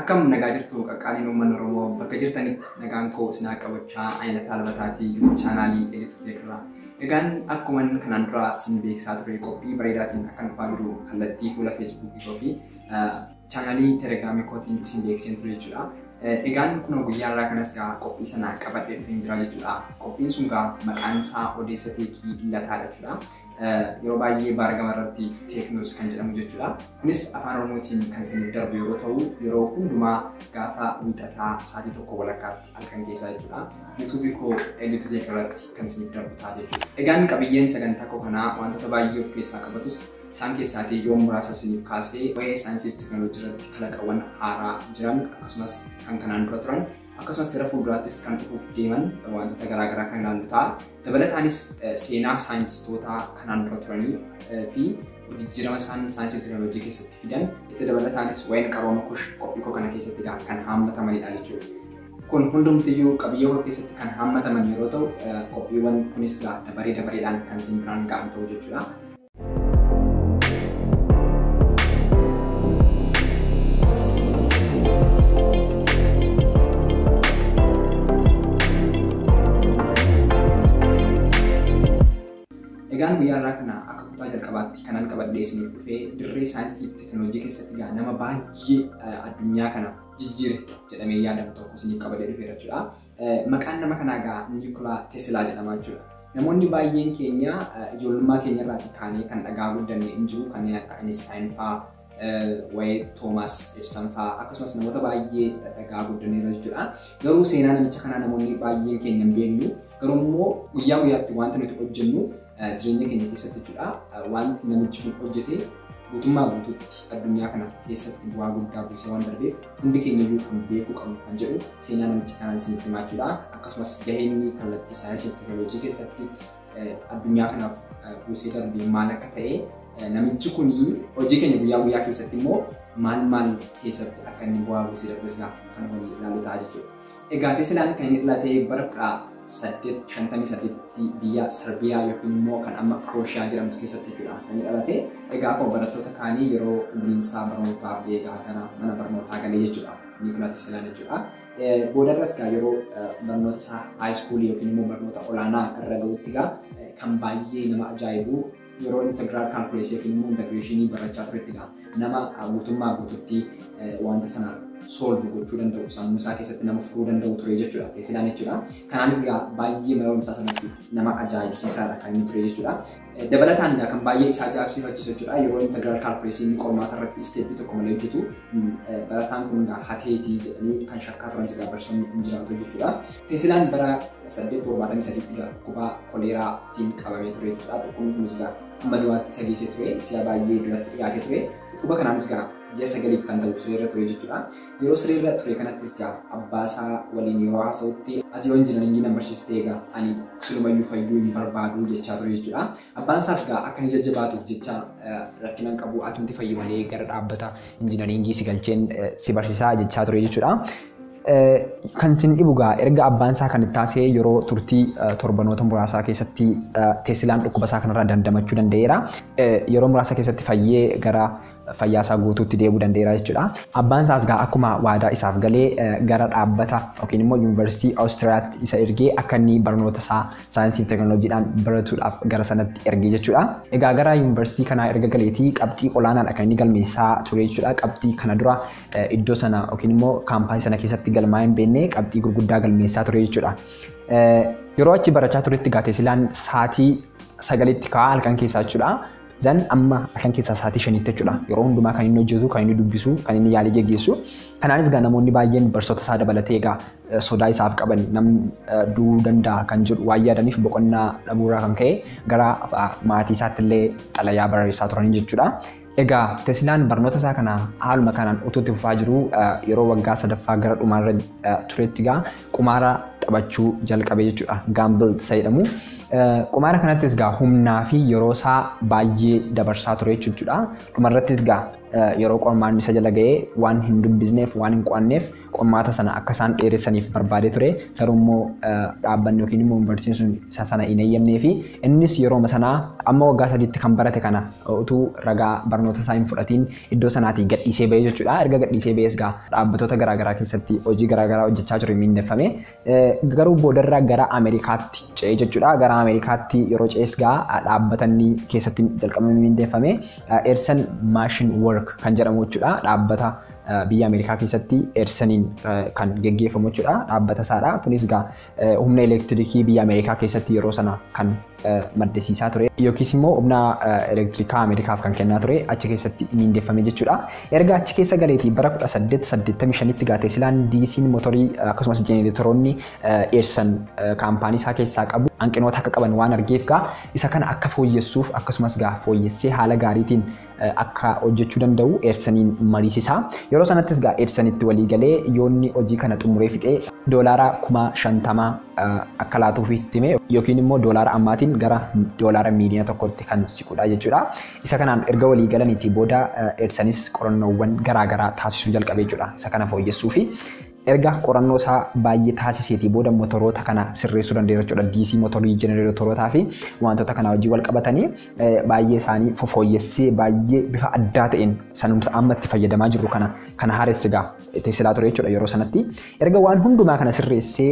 Akkam nagaa jirtu qaqqaaliin uummanni Oromoo bakka jirtanitti nagaan koo isin haa qabachaa ayina taalbataatii YouTube chaanaalii Elite Tech irraa. Egaan akkuman kanaan dura isin beeksisaa ture qophii bareedaatiin akka nufaa jiru kallattii fuula Facebook koo fi chaanaalii Telegraamii kootiin isin beeksiseen ture jechuudha. Egaan kunoo guyyaa irraa kanas gaa qophii sana qabatee dhufeen jira jechuudha. Qophiin sun gaa maqaan isaa odeessa teekii lataadha jechuudha. yeroo baay'ee baargama irratti teeknoos kan jedhamu jechuudha. Kunis afaan Oromootiin kan isiniif darbu yeroo ta'u yeroo hundumaa gaafa wiixataa sa'aatii tokko walakkaatti halkan keessaa jechuudha. Yuutuubii koo LTZ irratti kan isiniif darbu ta'a jechuudha. Egaan qabiyyeen sagantaa koo kanaa wantoota baay'ee of keessaa qabatus isaan keessaatii yoo muraasa isiniif kaasee waa'ee saayinsii fi teeknooloojii irratti kalaqawwan haaraa jiran akkasumas kan kanaan dura turan Akkasumas gara fuulduraattis kan dhufuuf deeman wantoota garaa garaa kan ilaallu ta'a. Dabalataanis seenaa saayintistootaa kanaan dura turanii fi jijjiirama isaan saayinsii fi teekinooloojii keessatti fidan itti dabalataanis waa'een qarooma kush qophii koo kana keessatti kan haammatamanidha jechuudha. Kun hundumtiyyuu qabiyyee koo keessatti kan haammataman yeroo ta'u qophiiwwan kunis dabaree dabareedhaan kan isin biraan ga'an ta'u jechuudha. Egaan guyyaa irraa kana akka kutaa jalqabaatti kanan qabadhee isiniif dhufee dirree saayinsii fi teekinooloojii keessatti egaa nama baay'ee addunyaa kana jijjiire jedhamee yaadamu tokko isiniif qabadhee dhufeera jechuudha. Maqaan nama kanaa egaa Niikolaa Tesilaa jedhama jechuudha. Namoonni baay'een keenya ijoollummaa keenya irraatii kaanee kan dhagaa guddanne hin jiru kanneen akka Einstein fa'aa, waa'ee Toomaas Edison fa'aa akkasumas namoota baay'ee dhagaa guddanneerra jechuudha. Garuu seenaa namicha kanaa namoonni baay'een keenya hin beeknu. Garuu immoo guyyaa guyyaatti wanta nuti hojjennu jireenya keenya keessatti jechuudha wanti namichi kun hojjete guutummaa guutuutti addunyaa kana keessatti bu'aa guddaa buusee waan darbeef hundi keenya iyyuu kan beekuu qabnu kan jedhu seenaa namicha kanaan isinitti himaa jechuudha akkasumas gaheen kallattii saayinsii teekinooloojii keessatti addunyaa kanaaf buusee darbee maal akka ta'e namichi kun hojii keenya guyyaa guyyaa keessatti immoo maal maal keessatti akka inni bu'aa buusee darbe sanaaf kan waliin ilaalu ta'a jechuudha. Egaa Teslaan kan inni dhalate bara 1858 tti biyya Sarbiyaa yookiin immoo kan amma Kirooshiyaa jedhamtu keessatti jechuudha kan inni dhalate. Egaa akkuma barattoota kaanii yeroo umriin isaa barnootaaf eegaa gara mana barnootaa galee jechuudha. Niikola Teslaan jechuudha. Boodarras egaa yeroo barnoota isaa haayiskuulii yookiin immoo barnoota olaanaa irra ga'utti egaa kan baay'ee nama ajaa'ibu Yeroo integiraal kaalkuleesii yookiin immoo integreeshinii barachaa turettidha. Nama guutummaa guututti wanta sana solve gochuu danda'u sammuu isaa keessatti nama furuu danda'u ture jechuudha. Teesilaan jechuudha. Kanaanis egaa baay'ee mana barumsaa sanatti nama ajaa'ibsiisaadha kan inni ture jechuudha. Dabalataan egaa kan baay'ee isaa ajaa'ibsiifachiisu jechuudha. Yeroo integiraal kaalkuleesii inni qormaata irratti isteeppii tokko malee hojjetu barataan kun egaa hateetii jedhanii kan shakkaa turanis egaa barsoonni hin jiraatu jechuudha. Teesilaan bara 8 73 dhiga dhukubaa koleeraa tiin qabamee turee jechuudha dhukkubni kunis egaa amma du'aatti isa geessee ture si'a baay'ee duratti dhiyaatee ture dhukkuba kanaanis egaa ji'a sagaliif kan ta'u siree irra ture jechuudha yeroo siree irra ture kanattis egaa abbaa isaa waliin yeroo haasa'utti ati yoo injinariingii na barsiiftee egaa ani silumayyuu fayyuu hin barbaadu jechaa ture jechuudha Abbaan isaas egaa akka inni jajjabaatuuf jecha rakkina hin qabu atumti fayyi malee gara dhaabbata injinariingii si galcheen si barsiisaa jechaa ture jechuudha. Kan isin dhibu egaa erga abbaan isaa kan itti taasee yeroo turtii torbanoota muraasaa keessatti Teesilaan dhukkuba isaa kanarraa dandamachuu danda'eera. Yeroo muraasa keessatti fayyee gara fayyaa isaa guutuutti deebi'uu danda'eera jechuudha. Abbaan isaas egaa akkuma waadaa isaaf galee gara dhaabbata yookiin immoo yuunivarsiitii Awustiriyaatti isa ergee akka inni barnoota isaa saayinsii fi teekinooloojiidhaan baratuudhaaf gara sanatti ergee jechuudha. Egaa gara yuunivarsiitii kanaa erga galeetii qabxii olaanaadha kan inni galmeessaa ture jechuudha. Qabxii kana dura iddoo sana yookiin immoo kaampaanii sana keessatti galmaa'ee hin beekne qabxii gurguddaa galmeessaa ture jechuudha. Yeroo achi barachaa turetti egaa Teesilaan sa'aatii sagalitti ka'aa halkan keessaa jechuudha. Zan amma asan keessaa sa'aatii shaniitti jechuudha. Yeroo hundumaa kan inni hojjetu, kan inni dubbisu, kan inni yaalii geggeessu. Kanaanis egaa namoonni baay'een barsiisota isaa dabalatee egaa sodaa isaaf qaban nam du'uu danda'a kan jedhu waan yaadaniif boqonnaa dhabuurraa kan ka'e gara maatii isaatti illee xalayaa barreessaa turanii jechuudha. Egaa Teslaan barnoota isaa kana haaluma kanaan utuu itti fufaa jiru yeroo waggaa sadaffaa gara dhumaarra turetti egaa qumaara taphachuu jalqabe jechuudha. Gaambil isa jedhamu. Qumaara kanattis gaa humnaa fi yeroo isaa baay'ee dabarsaa ture jechuudha. Dhumarrattis gaa yeroo qormaanni isa jala ga'ee waan hin dubbisneef waan hin qo'anneef qormaata sana akka isaan dheeressaniif barbaadee ture. Garuu immoo dhaabbanni yookiin immoo yuunivarsiitiin sun isa sana hin eeyyamnee fi innis yerooma sanaa amma waggaa sadiitti kan barate kana utuu ragaa barnoota isaa hin fudhatiin iddoo sanaatii gadhiisee bahee jechuudha. Erga gadhiisee bahees gaa dhaabbatoota garaagaraa keessatti hojii garaagaraa hojjechaa ture miindeffame. Garuu boodarra gara Ameerikaatti ce'ee jechuudha. Gara Ameerikaatti yeroo ce'es gaa dhaabbatanni keessatti jalqabame miindeffame. Eersan Maashin Work kan jedhamu jechuudha. Dhaabbata biyya Ameerikaa keessatti Eersaniin kan geggeeffamu jechuudha. Dhaabbata isaadha. Kunis gaa humna elektirikii biyya Ameerikaa keessatti yeroo sana kan maddisiisaa ture yookiis immoo humna elektirikaa Ameerikaaf kan kennaa ture achi keessatti miindeffame jechuudha. Erga achi keessa galeetii bara 1885tti Gaateesilaan diisiin motorii akkasumas jenereetoroonni Eersan kaampaanii isaa keessaa qabu hanqinoota akka qaban waan argeef gaa isa kana akka fooyyessuuf akkasumas gaa fooyyessee haala gaariitiin akka hojjechuu danda'u Eersaniin mariisisa. Yeroo sanattis gaa Eersanitti walii galee yoonni hojii kana xumuree fixee doolaara kuma shantama akka laatuuf itti hime yookiin immoo doolaara ammaatiin gara doolaara miiliyoona tokkotti kan siqudha jechuudha. Isa kanaan erga walii galaniitii booda Eersanis qorannoowwan garaa garaa taasisuu jalqabe jechuudha. Isa kana fooyyessuufi Erga qorannoo isaa baay'ee taasiseetii booda motoroota kana sirreessuu danda'eera jechuudha. DC motorii jenereetorootaa fi wantoota kanaa wajjin wal qabatanii baay'ee isaanii fofooyyessee baay'ee bifa addaa ta'een sanumsa amma itti fayyadamaa jirru kana kan haaresse egaa teesilaa ture jechuudha yeroo sanatti. Erga waan hundumaa kana sirreessee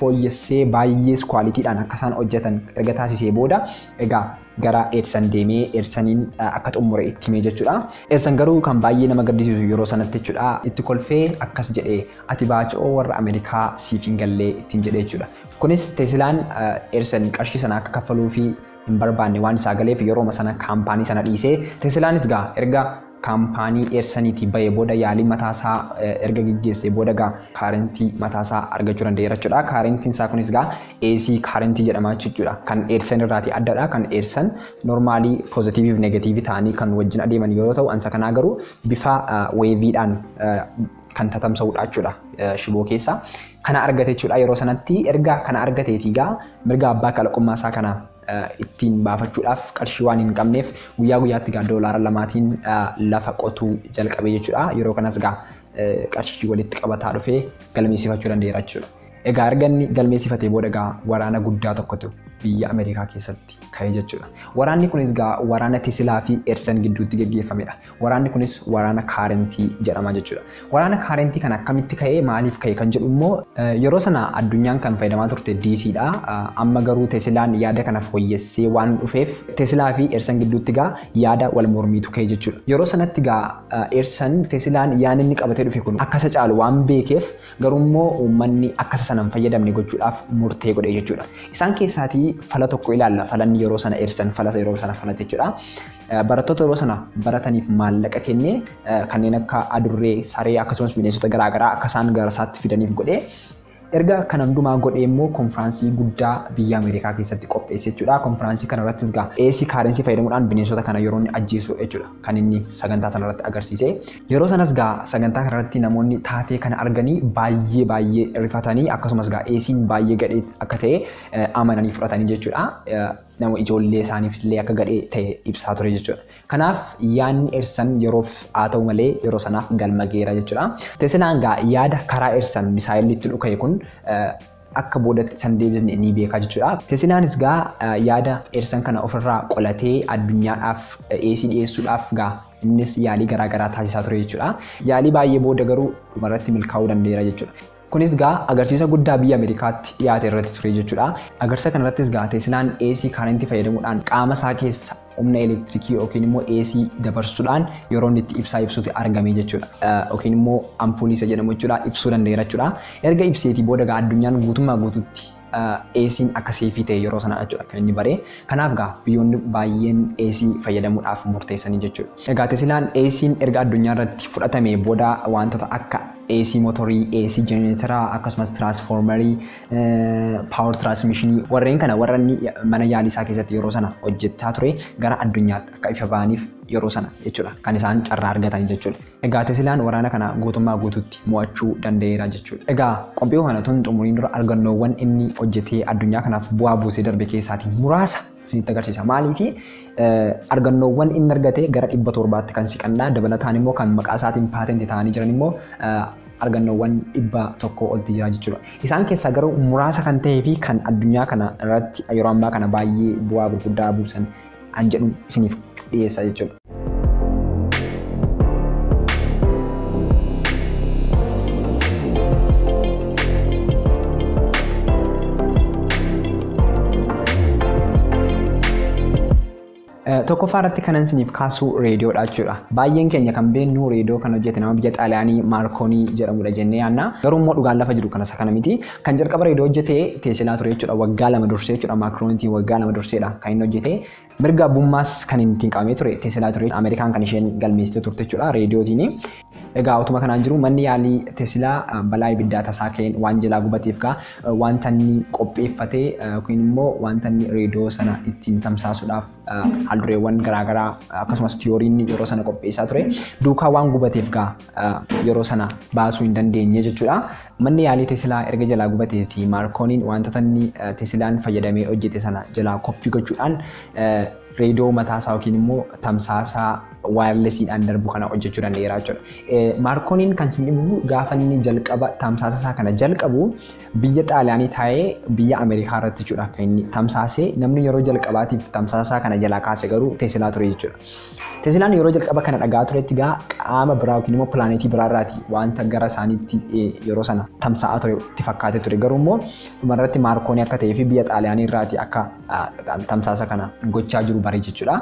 fooyyessee baay'ees kwaalitiidhaan akka isaan hojjetan erga taasisee booda egaa gara Edsan deemee Edsaniin akka xumure itti himee jechuudha. Edsan garuu kan baay'ee nama gaddisiisu yeroo sanatti jechuudha itti kolfee akkas jedhe ati baacoo warra Ameerikaa siif hin gallee ittiin jedhe jechuudha. Kunis Tesilaan Edsan qarshii sana akka kaffaluu fi hin barbaanne waan isaa galeef yerooma sana kaampaanii sana dhiisee Tesilaanis gaa erga kaampaanii Eersaniitii ba'ee booda yaalii mataa isaa erga geggeessee booda egaa kaarentii mataa isaa argachuu danda'eera jechuudha. Kaarentiin isaa kunis egaa AC kaarentii jedhama jechuudha. Kan Eersan irraatii addadha. Kan Eersan normaalii poozitiivii fi negatiivii ta'anii kan wajjin adeeman yeroo ta'u ansa kanaa garuu bifa weeviidhaan kan tatamsa'uudha jechuudha shiboo keessa. Kana argate jechuudha yeroo sanatti erga kana argateetii egaa mirga abbaa kalaqummaa isaa kana ittiin baafachuudhaaf qarshii waan hin qabneef guyyaa guyyaatti gaa doolaara lamaatiin lafa qotuu jalqabe jechuudha. Yeroo kanas gaa qarshii walitti qabataa dhufee galmeessifachuu danda'eera jechuudha. Egaa erga inni galmeessifatee booda gaa waraana guddaa tokkotu biyya Ameerikaa keessatti ka'e jechuudha. Waraanni kunis gaa waraana Tesilaa fi Edison gidduutti geggeeffamedha. Waraanni kunis waraana kaarentii jedhama jechuudha. Waraana kaarentii kana akkamitti ka'ee maaliif ka'e kan jedhu immoo yeroo sana addunyaan kan fayyadamaa turte DC dha. Amma garuu Tesilaan yaada kana fooyyessee waan dhufeef Tesilaa fi Eersan gidduutti gaa yaada wal mormiitu ka'e jechuudha. Yeroo sanatti gaa Eersan Tesilaan yaadni inni qabatee dhufe kun akka isa caalu waan beekeef garuu immoo uummanni akka isa sana hin fayyadamne gochuudhaaf murtee godhe jechuudha. Isaan keessaatii fala tokko ilaalla. Falanni yeroo sana Eersan falasa yeroo sana falate jechuudha. Barattoota yeroo sana barataniif maallaqa kennee kanneen akka adurree, saree akkasumas bineensota garaagaraa akka isaan gara isaatti fidaniif godhee erga kana hundumaa godhee immoo konfiraansii guddaa biyya Ameerikaa keessatti qopheesse jechuudha. Konfiraansii kana irrattis gaa AC kaarensii fayyadamuudhaan bineensota kana yeroo inni ajjeesu jechuudha kan inni sagantaa sana irratti agarsiise. Yeroo sanas gaa sagantaa kana irratti namoonni taatee kana arganii baay'ee baay'ee rifatanii akkasumas gaa AC'n baay'ee gadhee akka ta'e amananii fudhatanii jechuudha. nama ijoollee isaaniifillee akka gadhee ta'e ibsaa ture jechuudha. Kanaaf yaadni Ersan yeroof haa ta'u malee yeroo sanaaf galma geera jechuudha. Teselaan gaa yaada karaa Ersan misaayilli itti dhuka'e kun akka boodatti isan deebisne ni beekaa jechuudha. Tesilaanis gaa yaada Ersan kana ofirraa qolatee addunyaadhaaf dhiyeessii dhiyeessuudhaaf gaa innis yaalii garaa garaa taasisaa ture jechuudha. Yaalii baay'ee booda garuu dhumarratti milkaa'uu danda'eera jechuudha. Kunis gaa agarsiisa guddaa biyya Ameerikaatti dhiyaate irratti ture jechuudha. Agarsiisa kanarrattis gaa Teeslaan AC kaarentii fayyadamuudhaan qaama isaa keessa humna elektirikii yookiin immoo AC dabarsuudhaan yeroo inni itti ibsaa ibsuuti argame jechuudha. Yookiin immoo ampuulii isa jedhamu jechuudha ibsuu danda'eera jechuudha. Erga ibseetii booda gaa addunyaan guutummaa guutuutti AC'n akka seefii ta'e yeroo sana jechuudha kan inni baree. Kanaaf gaa biyyoonni baay'een AC fayyadamuudhaaf murteessanii jechuudha. Egaa Tesilaan AC'n erga addunyaa irratti fudhatamee booda wantoota akka AC motorii, AC jenereetaraa akkasumas tiraansfoormarii, paawar tiraansmishinii warreen kana warra inni mana yaalii isaa keessatti yeroo sana hojjechaa ture gara addunyaatti akka ifa ba'aniif yeroo sana jechuudha kan isaan carraa argatan jechuudha. Egaa Tesilaan waraana kana guutummaa guutuutti mo'achuu danda'eera jechuudha. Egaa qophii kana utuu hin xumuriin dura argannoowwan inni hojjetee addunyaa kanaaf bu'aa buusee darbe keessaatii muraasa isinitti agarsiisa. Maaliifi argannoowwan inni argate gara dhibba torbaatti kan siqanna dabalataan immoo kan maqaa isaatiin paatenti ta'anii jiran immoo argannoowwan dhibba tokko olti jira jechuudha. Isaan keessaa garuu muraasa kan ta'ee fi kan addunyaa kana irratti yeroo ammaa kana baay'ee bu'aa gurguddaa buusan kan jedhu isiniif dhiyeessa jechuudha. Tokkoffaa irratti kanan isiniif kaasuu reediyoodha jechuudha. Baay'een keenya kan beeknu reediyoo kan hojjete nama biyya Xaaliyaanii Maarkoonii jedhamudha jennee yaadna. Garuu immoo dhugaan lafa jiru kanas kana miti. Kan jalqaba reedoo hojjete teesilaa ture jechuudha waggaa lama dursee jechuudha maakroonitiin waggaa lama durseedha kan inni hojjete mirga abbummaas kan inni ittiin qabamee ture teesilaa ture ameerikaan kan isheen galmeessite turte jechuudha reediyootiin egaa utuma kanaan jiru manni yaalii teesilaa balaa ibiddaa tasaa ka'een waan jalaa gubateef gaa wanta inni qopheeffate yookiin immoo wanta inni reediyoo sana ittiin tamsaasuudhaaf haaldureewwan garaagaraa akkasumas tiyooriin yeroo sana qopheessaa ture duukaa waan gubateef gaa yeroo sana baasuu hin dandeenye jechuudha. Manni yaalii Tesilaa erga jalaa gubatee fi Maarkooniin wantoota inni Tesilaan fayyadamee hojjete sana jalaa koppii gochuudhaan reediyoo mataasaa yookiin immoo tamsaasaa waayarlesiidhaan darbu kana hojjechuu danda'eera jechuudha. Maarkooniin kan isin dhibu gaafa inni jalqaba tamsaasa isaa kana jalqabu biyya Xaaliyaanii taa'ee biyya Ameerikaa irratti jechuudha kan inni tamsaasee namni yeroo jalqabaatiif tamsaasa isaa kana jalaa kaase garuu Tesilaa ture jechuudha. Teeslaan yeroo jalqaba kana dhaga'aa turetti egaa qaama biraa yookiin immoo pilaaneetii biraa irraati wanta gara isaaniitti yeroo sana tamsa'aa ture itti fakkaatee ture. Garuu immoo dhumarratti Maarkoonii akka ta'ee fi biyya Xaaliyaanii irraati akka tamsaasa kana gochaa jiru bare jechuudha.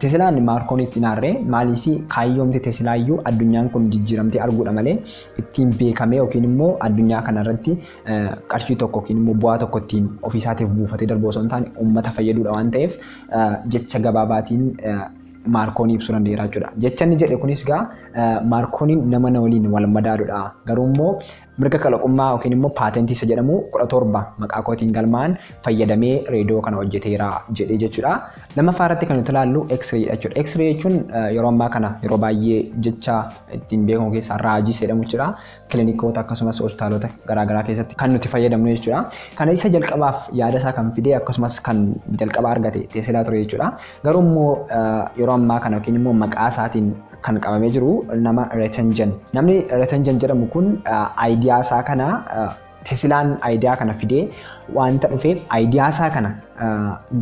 Teeslaan Maarkooniitti hin aarre maaliif kaayyoomti Teeslaayyuu addunyaan kun jijjiiramtee arguudha malee ittiin beekamee yookiin immoo addunyaa kanarratti qarshii tokko yookiin immoo bu'aa tokko ittiin ofiisaatiif buufatee darbu osoo hin taane uummata fayyaduudha waan ta'eef jecha gabaabaatiin Maarkoonii ibsuu danda'eera jechuudha. Jecha inni jedhe kunis egaa Maarkooniin nama na waliin wal madaaludha. Garuu immoo mirga kalaqummaa yookiin immoo paatentii isa jedhamu kudha torba maqaa kootiin galmaa'an fayyadamee reediyoo kana hojjeteera jedhee jechuudha. Lammaffaa irratti kan nuti ilaallu X-ray dha jechuudha. X-ray jechuun yeroo ammaa kana yeroo baay'ee jecha ittiin beekamu keessaa raajii jedhamu jechuudha. kilinikoota akkasumas hospitaalota garaagaraa keessatti kan nuti fayyadamnu jechuudha. Kana isa jalqabaaf yaada isaa kan fidee akkasumas kan jalqaba argate Teesilaa ture jechuudha. Garuu immoo yeroo ammaa kana yookiin immoo maqaa isaatiin kan qabamee jiru nama Retenjan. Namni Retenjan jedhamu kun aayidiyaa isaa kana Tesilaan ayidiyaa kana fidee wanta dhufeef ayidiyaasaa kana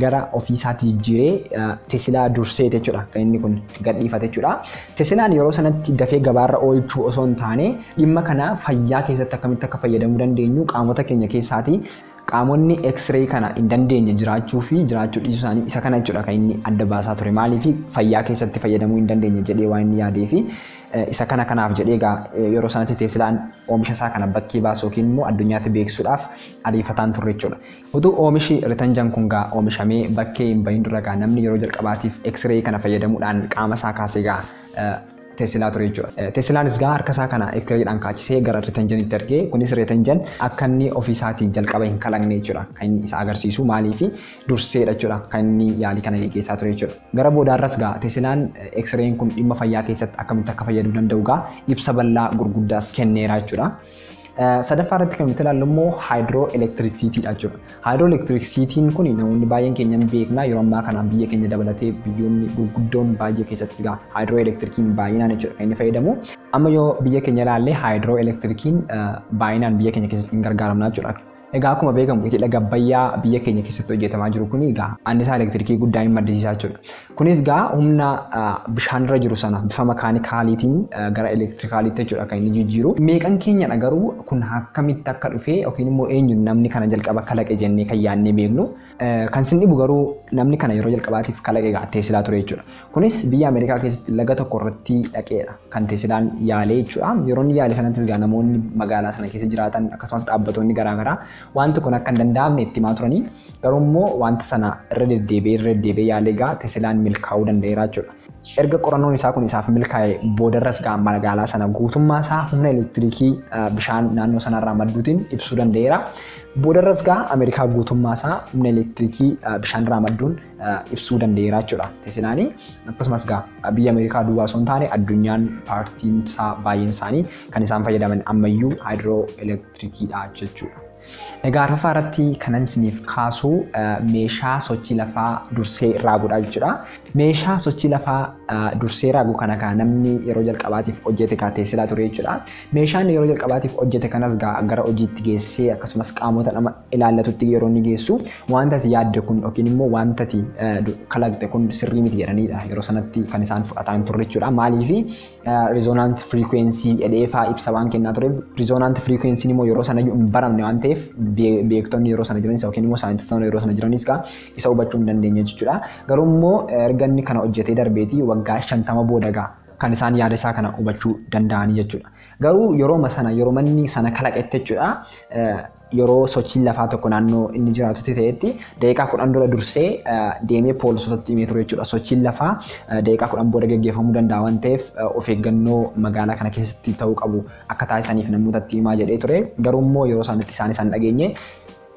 gara ofiisaatti jijjiiree tesilaa durseeti jechuudha kan inni kun gadhiifate jechuudha. Tesilaan yeroo sanatti dafee gabaarra oolchuu osoo hin taane dhimma kana fayyaa keessatti akkamitti akka fayyadamuu dandeenyu qaamota keenya keessaati qaamonni x-ray kana hin dandeenye jiraachuu fi jiraachuu dhiisuu isaanii isa kana jechuudha kan inni adda baasaa ture maaliif fayyaa keessatti fayyadamuu hin dandeenye jedhee waan inni yaadee fi Isa kana kanaaf jedhee egaa yeroo sanatti Teeslaan oomisha isaa kana bakkee baasu yookiin immoo addunyaatti beeksisuudhaaf ariifataan turre jechuudha. Utuu oomishi Ritanjan kun gaa oomishamee bakkee hin bahin dura gaa namni yeroo jalqabaatiif X-ray kana fayyadamuudhaan qaama isaa kaasee gaa Teesilaa ture jechuudha. Teesilaanis gaa harka isaa kana X-rayidhaan kaachisee gara Ritanjanitti ergee kunis Ritanjan akka inni ofii isaatiin jalqaba hin kalaqne jechuudha. Kan inni isa agarsiisu maaliif durseedha jechuudha kan inni yaalii kana geggeessaa ture jechuudha. Gara boodaarras gaa Teselaan X-ray'n kun dhimma fayyaa keessatti akkamitti akka fayyaduu danda'u gaa ibsa bal'aa gurguddaas kenneera jechuudha. Sadaffaa irratti kan nuti ilaallu immoo haayidroo elektiriksiitiidha jechuudha. Haayidroo elektiriksiitiin kun namoonni baay'een keenya hin beekna yeroo ammaa kanaan biyya keenya dabalatee biyyoonni gurguddoon baay'ee keessatti gaa haayidroo elektirikiin baay'inaan jechuudha kan inni fayyadamu. Amma yoo biyya keenya ilaalle haayidroo elektirikiin baay'inaan biyya keenya keessatti hin gargaaramna jechuudha. Egaa akkuma beekamu iti laga Abbayyaa biyya keenya keessatti hojjetamaa jiru kun egaa annisaa elektirikii guddaa hin maddisiisaa jechuudha. Kunis egaa humna bishaanirra jiru sana bifa makaanikaaliitiin gara elektirikaaliitti jechuudha kan inni jijjiiru. Meeqan keenyadha garuu kun akkamitti akka dhufe yookiin immoo eenyu namni kana jalqaba kalaqe jennee kan yaadnee beeknu. Kan sin dhibu garuu namni kana yeroo jalqabaatiif kalaqe egaa Teesilaa ture jechuudha. Kunis biyya Ameerikaa keessatti laga tokko irratti dhaqeedha kan Teesilaan yaalee jechuudha. Yeroo inni yaale sanattis egaa namoonni magaalaa sana keessa jiraatan akkasumas dhaabbatoonni garaagaraa wanti kun akka hin danda'amne itti himaa turanii garuu immoo wanta sana irra deddeebi'ee irra deddeebi'ee yaalee egaa Teesilaan milkaa'uu danda'eera jechuudha. Erga qorannoon isaa kun isaaf milkaa'e boodarras egaa magaalaa sana guutummaa isaa humna elektiriikii bishaan naannoo sanarraa madduutiin ibsuu danda'eera. Boodarras gaa Ameerikaa guutummaa isaa humna elektiriikii bishaan raamadduun ibsuu danda'eera jechuudha Teslaani. Akkasumas gaa biyya Ameerikaa duwwaa osoo hin taane addunyaan paartiin isaa baay'een isaanii kan isaan fayyadaman ammayyuu haayidroo elektiriikiidha jechuudha. Egaa arfaffaa irratti kanan isiniif kaasu meeshaa sochii lafaa dursee raagudha jechuudha. Meeshaa sochii lafaa dursee raagu kana gaa namni yeroo jalqabaatiif hojjete gaa Teesilaa ture jechuudha. Meeshaan yeroo jalqabaatiif hojjete kanas gaa gara hojiitti geessee akkasumas qaamota nama ilaallatutti yeroo inni geessu wanta ati yaadde kun yookiin immoo wanta ati kalaqxe kun sirrii miti jedhaniidha yeroo sanatti kan isaan fudhataa hin turre jechuudha. Maaliif rizonaant firiikweensii jedheefaa ibsa waan kennaa tureef rizonaant firiikweensiin immoo yeroo sana hin baramne waan ta'eef beektonni yeroo sana jiranis yookiin immoo saayintistoonni yeroo sana jiranis gaa isa hubachuu hin dandeenye jechuudha. Garuu immoo erga inni kana hojjetee darbeetii waggaa shantama booda gaa kan isaan yaada isaa kana hubachuu danda'anii jechuudha. Garuu yerooma sana yeroo manni sana kalaqetti jechuudha yeroo sochiin lafaa tokko naannoo inni jiraatutti ta'etti daqiiqaa kudhan dura dursee deemee poolisootatti himee ture jechuudha. Sochiin lafaa daqiiqaa kudhan booda gaggeeffamuu danda'a waan ta'eef of eeggannoo magaalaa kana keessatti ta'uu qabu akka taasisaniif namootatti himaa jedhee ture. Garuu immoo yeroo isaanitti isaan isaan dhageenye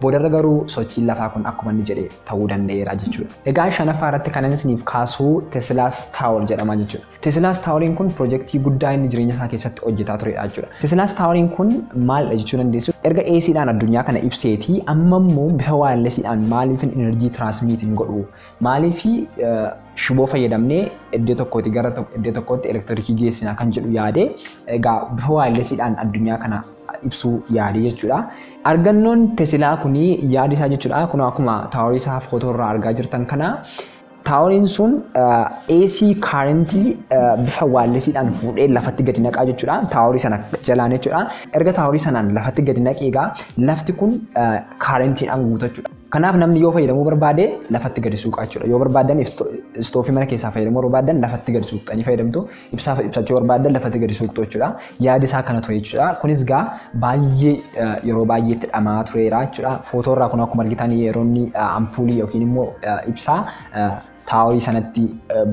Boodarra garuu sochiin lafaa kun akkuma inni jedhe ta'uu danda'eera jechuudha. Egaa shanaffaa irratti kanan isiniif kaasuu Tesilaas Taawor jedhama jechuudha. Tesilaas Taaworiin kun pirojektii guddaa inni jireenya isaa keessatti hojjetaa turedha jechuudha. Tesilaas Taaworiin kun maalidha jechuu dandeessu? Erga AC dhaan addunyaa kana ibseeti amma immoo bifa waayarlesii dhaan maaliifin enerjii tiraansmiit hin godhu? Maaliif shiboo fayyadamnee iddoo tokkooti gara iddoo tokkootti elektirikii geessina kan jedhu yaade egaa bifa waayarlesii dhaan addunyaa kana ibsuu yaade jechuudha. Argannoon Tesilaa kun yaadi isaa jechuudha. Kun akkuma taaworii isaa footoo irraa argaa jirtan kana taaworiin sun AC kaarentii bifa waallesiidhaan fuudhee lafatti gadi naqaa jechuudha. Taaworii sana jalaan jechuudha. Erga taaworii sanaan lafatti gadi naqee egaa lafti kun kaarentiidhaan guutachuudha. Kanaaf namni yoo fayyadamuu barbaade lafatti gadi suuqaa jechuudha. Yoo barbaadan istoofii mana keessaa fayyadamuu barbaadan lafatti gadi suuqxanii fayyadamtu. ibsaa ibsachuu barbaaddan lafatti gadi suuqxu jechuudha. Yaadi isaa kana ture jechuudha. Kunis gaa baay'ee yeroo baay'eetti dhamaa tureera jechuudha. Footoo irraa kun akkuma argitan yeroo inni ampuulii yookiin immoo ibsaa taaworii sanatti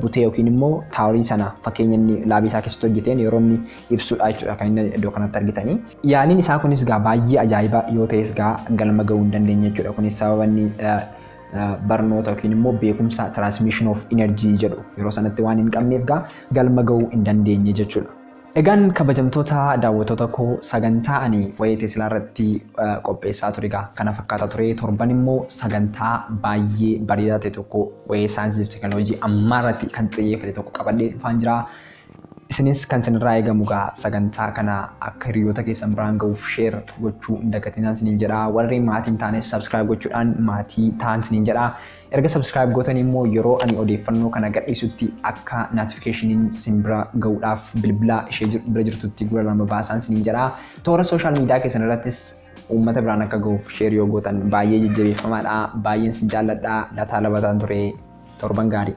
butee yookiin immoo taaworii sana fakkeenya inni laabii isaa keessatti hojjeteen yeroo inni ibsudha jechuudha kan inni iddoo kanatti argitanii. Yaaliin isaa kunis gaa baay'ee ajaa'iba yoo ta'es gaa galma ga'uu hin dandeenye jechuudha. Kunis sababa inni barnoota yookiin immoo beekumsa transmission of energy jedhu yeroo sanatti waan hin qabneef gaa galma ga'uu hin dandeenye jechuudha. Egaan kabajamtoota daawwattoota koo sagantaa ani waa'ee Teslaa irratti qopheessaa ture egaa kana fakkaata ture torban immoo sagantaa baay'ee bareedaa ta'e tokko waa'ee saayinsii fi teekinooloojii ammaa irratti kan xiyyeeffate tokko qabadhee dhufaan jira. Isinis kan isinirraa eegamu egaa sagantaa kana akka hiriyoota keessan biraan gahuuf share gochuu hin dagatinaa isiniin jedha. Warri maatii hin taanes subscribe gochuudhaan maatii ta'aan isiniin jedha. Erga subscribe gootanii immoo yeroo ani odeeffannoo kana gadhiisutti akka notificationin isin bira gahuudhaaf bilbila ishee jir- bira jirtutti gura lama baasaan isiniin jedha. Toora social media keessan irrattis uummata biraan akka gahuuf share yoo gootan baay'ee jajjabeeffamaadha. Baay'een isin jaalladha. Lataa Labataan ture. Torban gaarii.